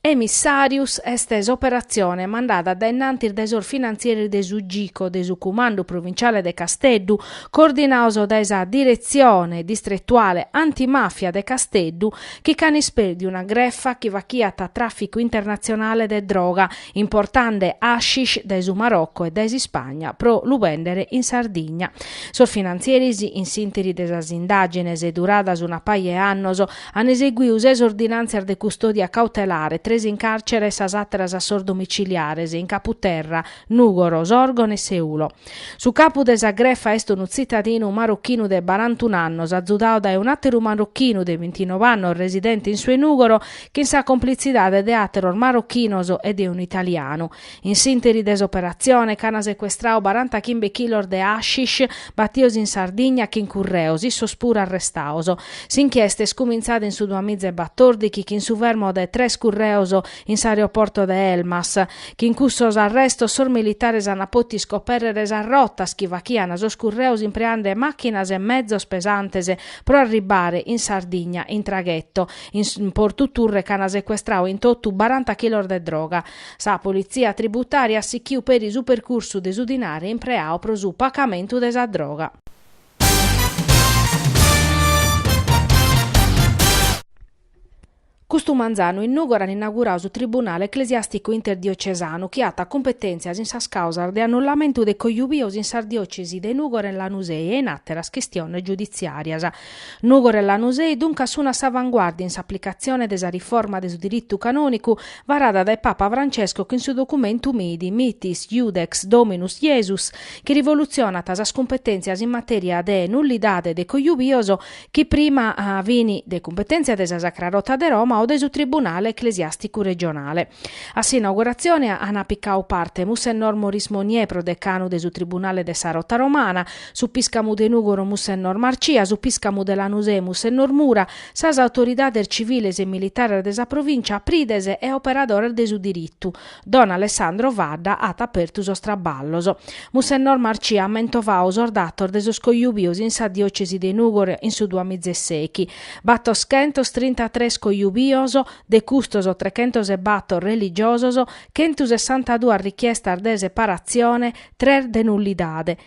Emissàrius est s'operatzione mandada dae innantis dae sos finantzieris de su Gico de su Cumandu Provinciale de Casteddu, coordinados dae sa Diretzione Distretuale Antimàfia de Casteddu, chi ch'an ispèrdiu una grefa chi fachiat tràficu internatzionale de droga, importande hashish dae su Marocco e dae s'Ispagna pro lu bèndere in Sardigna. Sos finantzieris, in s'ìnteri de sas indàgines duradas una paja 'e annos, an eseguiu ses ordinàntzias de custòdia cautelare, tres in càrcere e sas àteras a sos domiciliares, in Caputerra, Nùgoro, Sòrgono e Seulo. Su capu de sa grefa est unu tzitadinu marochinu de barantunu annos, azudadu dae un'àteru marochinu de bintinove annos residente in su 'e Nùgoro, chin sa complitzidade de àteros marochinos e de unu italianu. In s'ìnteri de s'operatzione ch'an secuestradu barantachimbe chilos de hashish batidos in Sardigna chin curreos, issos puru arrestados. S'inchiesta est cumintzada in su duamizaebatòrdighi chin su fermo de tres curreos in s'aeroporto de Elmas. Chin cussos arrestos sos militares ant pòtidu iscopèrrere sas rotas chi faghiant sos curreos impreande màchinas e mezos pesantes pro arribbare in Sardigna in tragheto. In Portu Turre ch'an secuestradu in totu baranta chilos de droga. Sa politzia tributària at sichiu peri su percursu de su dinare impreau pro su pacamentu de sa droga. Custu manzanu in Nùgoro an inaugurau su Tribunale Eclesiàsticu Interdiocesanu chi at cumpetèntzias in sas càusas de annullamentu de cojubios in sas diòcesi de Nùgoro e Lanusei e in àteras chistiones giuditziàrias. Nùgoro e Lanusei duncas sun a s'avanguardia in s'aplicatzione de sa riforma de su diritu canònicu varada dae Papa Francesco chin su documentu Miti, Mitis Iudex Dominus Iesus, chi rivolutzionat sas cumpetèntzias in matèria de nullidade de cojubios chi prima fin de cumpetèntzia de sa Sacra Rota de Roma o de su Tribunale eclesiàsticu regionale. A s'inauguratzione ant picadu parte Mussennor Maurice Monnier, prodecanu de su Tribunale de sa Rota Romana, su piscamu de Nùgoro Mussennor Marcia, su piscamu de Lanusè Mussennor Mura, sas autoridades civiles e militares de sa provìncia, prides e operadores de su diritu. Don Alessandro Fadda at apertu sos traballos. Mussennor Marcia at mentovadu sos datos de sos cojubios in sa diòcesi de Nùgoro in su duamizesechi, battoschentos trintatres cojubios, de custos trechentos e battor religiosos, chentusessantaduas richiestas de separatzione, tres de nullidade.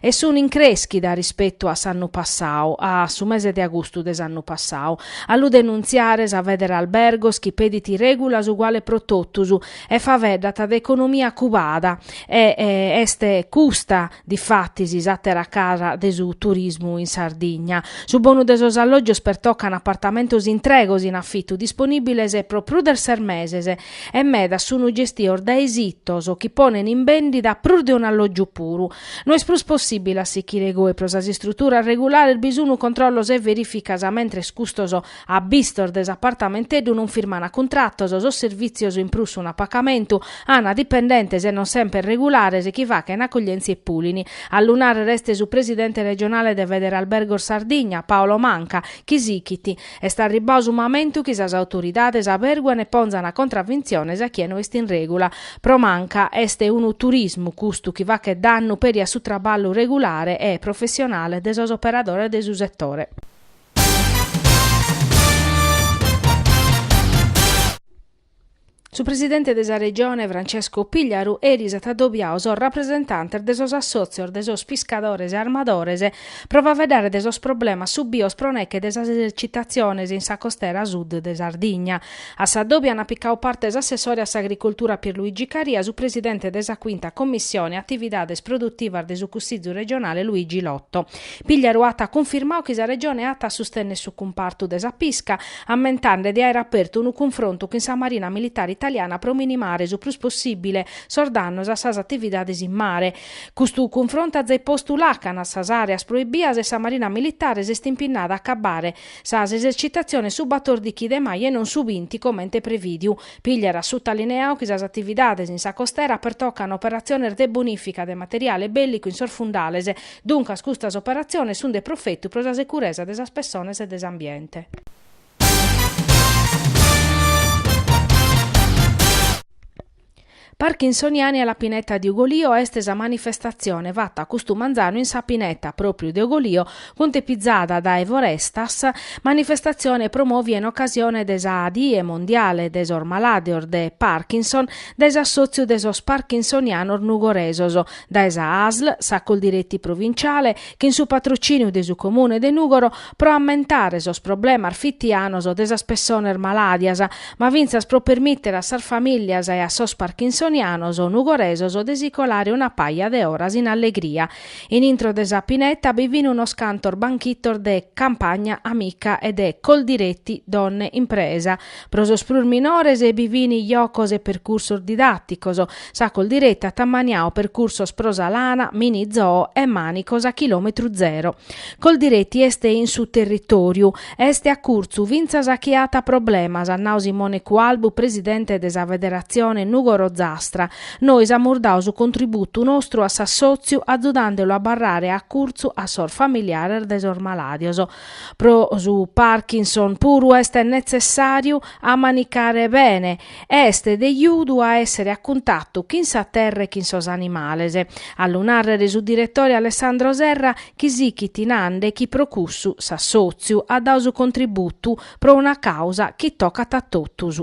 e sun in crèschida rispetu a s'annu passau, a su mese de agustu de s'annu passau. A lu denuntziare sa Federalbergos chi pedit règulas uguales pro totus e faveddat de economia cubada e est custa difatis s'àtera cara de su turismu in Sardigna. Su bonu de sos allògios pertocan apartamentos intregos in afitu disponìbiles pro prus de ses meses e medas sunu gestios dae sitos chi ponen in bèndida prus de un'allògiu puru. No est prus possìbile a sichire goe pro sas istruturas regulares bi sunu controllos e verìficas mentres custos abbistos de s'apartamenteddu non firmana cuntratos sos servìtzios in prus sun a pacamentu ana dipendentes e non semper regulares chi fachena accoglièntzia e pulini. A lu nàrrere est su presidente regionale de Federalbergos Sardigna, Paolo Manca, chi sichit Est arribbau su mamentu chi sas autoridades averguen e ponzan contravintziones a chie no est in regula. Pro Manca, est unu turismu custu chi fachet dannu peri a su traballu regulare e professionale de sos operadores de su setore. Su presidente de sa Regione Francesco Pigliaru eris at adobiau sos rapresentantes de sos assòtzios de sos piscadores e armadores pro faeddare de sos problemas subios pro nèche de sas esercitatziones in sa costera sud de Sardigna. A s'adòbiu ant picau parte s'assessore a s'agricultura Pierluigi Caria, su presidente de sa Quinta Commissione Atividades Produtivas de su Cussizu Regionale Luigi Lotto. Pigliaru at cunfirmau chi sa Regione at a sustènnere su cumpartu de sa pisca, ammentande de aere apertu unu cunfrontu chin sa Marina Militare Italiana pro minimare su prus possibile sos dannos a sas atividades in mare. Custu cunfrontu at zai postu làcana a sas àreas proibias e sa Marina Militare s'est impinnada a acabare sas esercitatziones su batòrdichi de maju e non su binti comente prevìdiu. Pigliaru at sutalineau chi sas atividades in sa costera pertocan operatziones de bonìfica de materiale bèllicu in sos fundales, Duncas custas operatziones sunt de profetu pro sa securesa de sas pessones e de s'ambiente. Parkinsoniani alla pineta di Ugolio est sa manifestatzione fata custu manzanu in sa pineta, pròpriu de Ugolio, cuntepizada dae Forestas, manifestatzione promòvia in ocasione de sa Die mondiale de sos malàdios de Parkinson dae s'assòtziu de sos parkinsonianos nugoresos, dae sa ASL, sa Coldiretti provinciale, chin su patrocìniu de su Comune de Nùgoro, pro ammentare sos problemas fitianos de sas pessones malàdias, ma fintzas pro permìtere a sas famìlias e a sos parkinsonianos nugoresos de si colare una paja de oras in allegria. In intro de sa pineta bi fin unos cantos banchitos de Campagna Amica e de Coldiretti Donne Impresa, Pro sos prus minores bi fin jocos e percursos didaticos. Sa Coldiretti at ammaniadu percursos pro sa lana, mini zoo e manicos a chilometru zero. Coldiretti est in su territoriu. Est a curtzu fintzas a chie at problemas, at nadu Simone Cualbu, presidente de sa Federatzione Nugoro Zastra. Nois amus dadu su contributu nostru a s'assòtziu azudande lu a abbarrare a curtzu a sos familiares de sos malàdios. Pro su Parkinson puru est netzessàriu a manicare bene e est de azudu a èssere a cuntatu chin sa terra e chin sos animales, a lu nàrrer est su diretore Alessandro Serra chi sichit nande chi pro cussu s'assòtziu at dadu su contributu pro una càusa chi tocat a totus.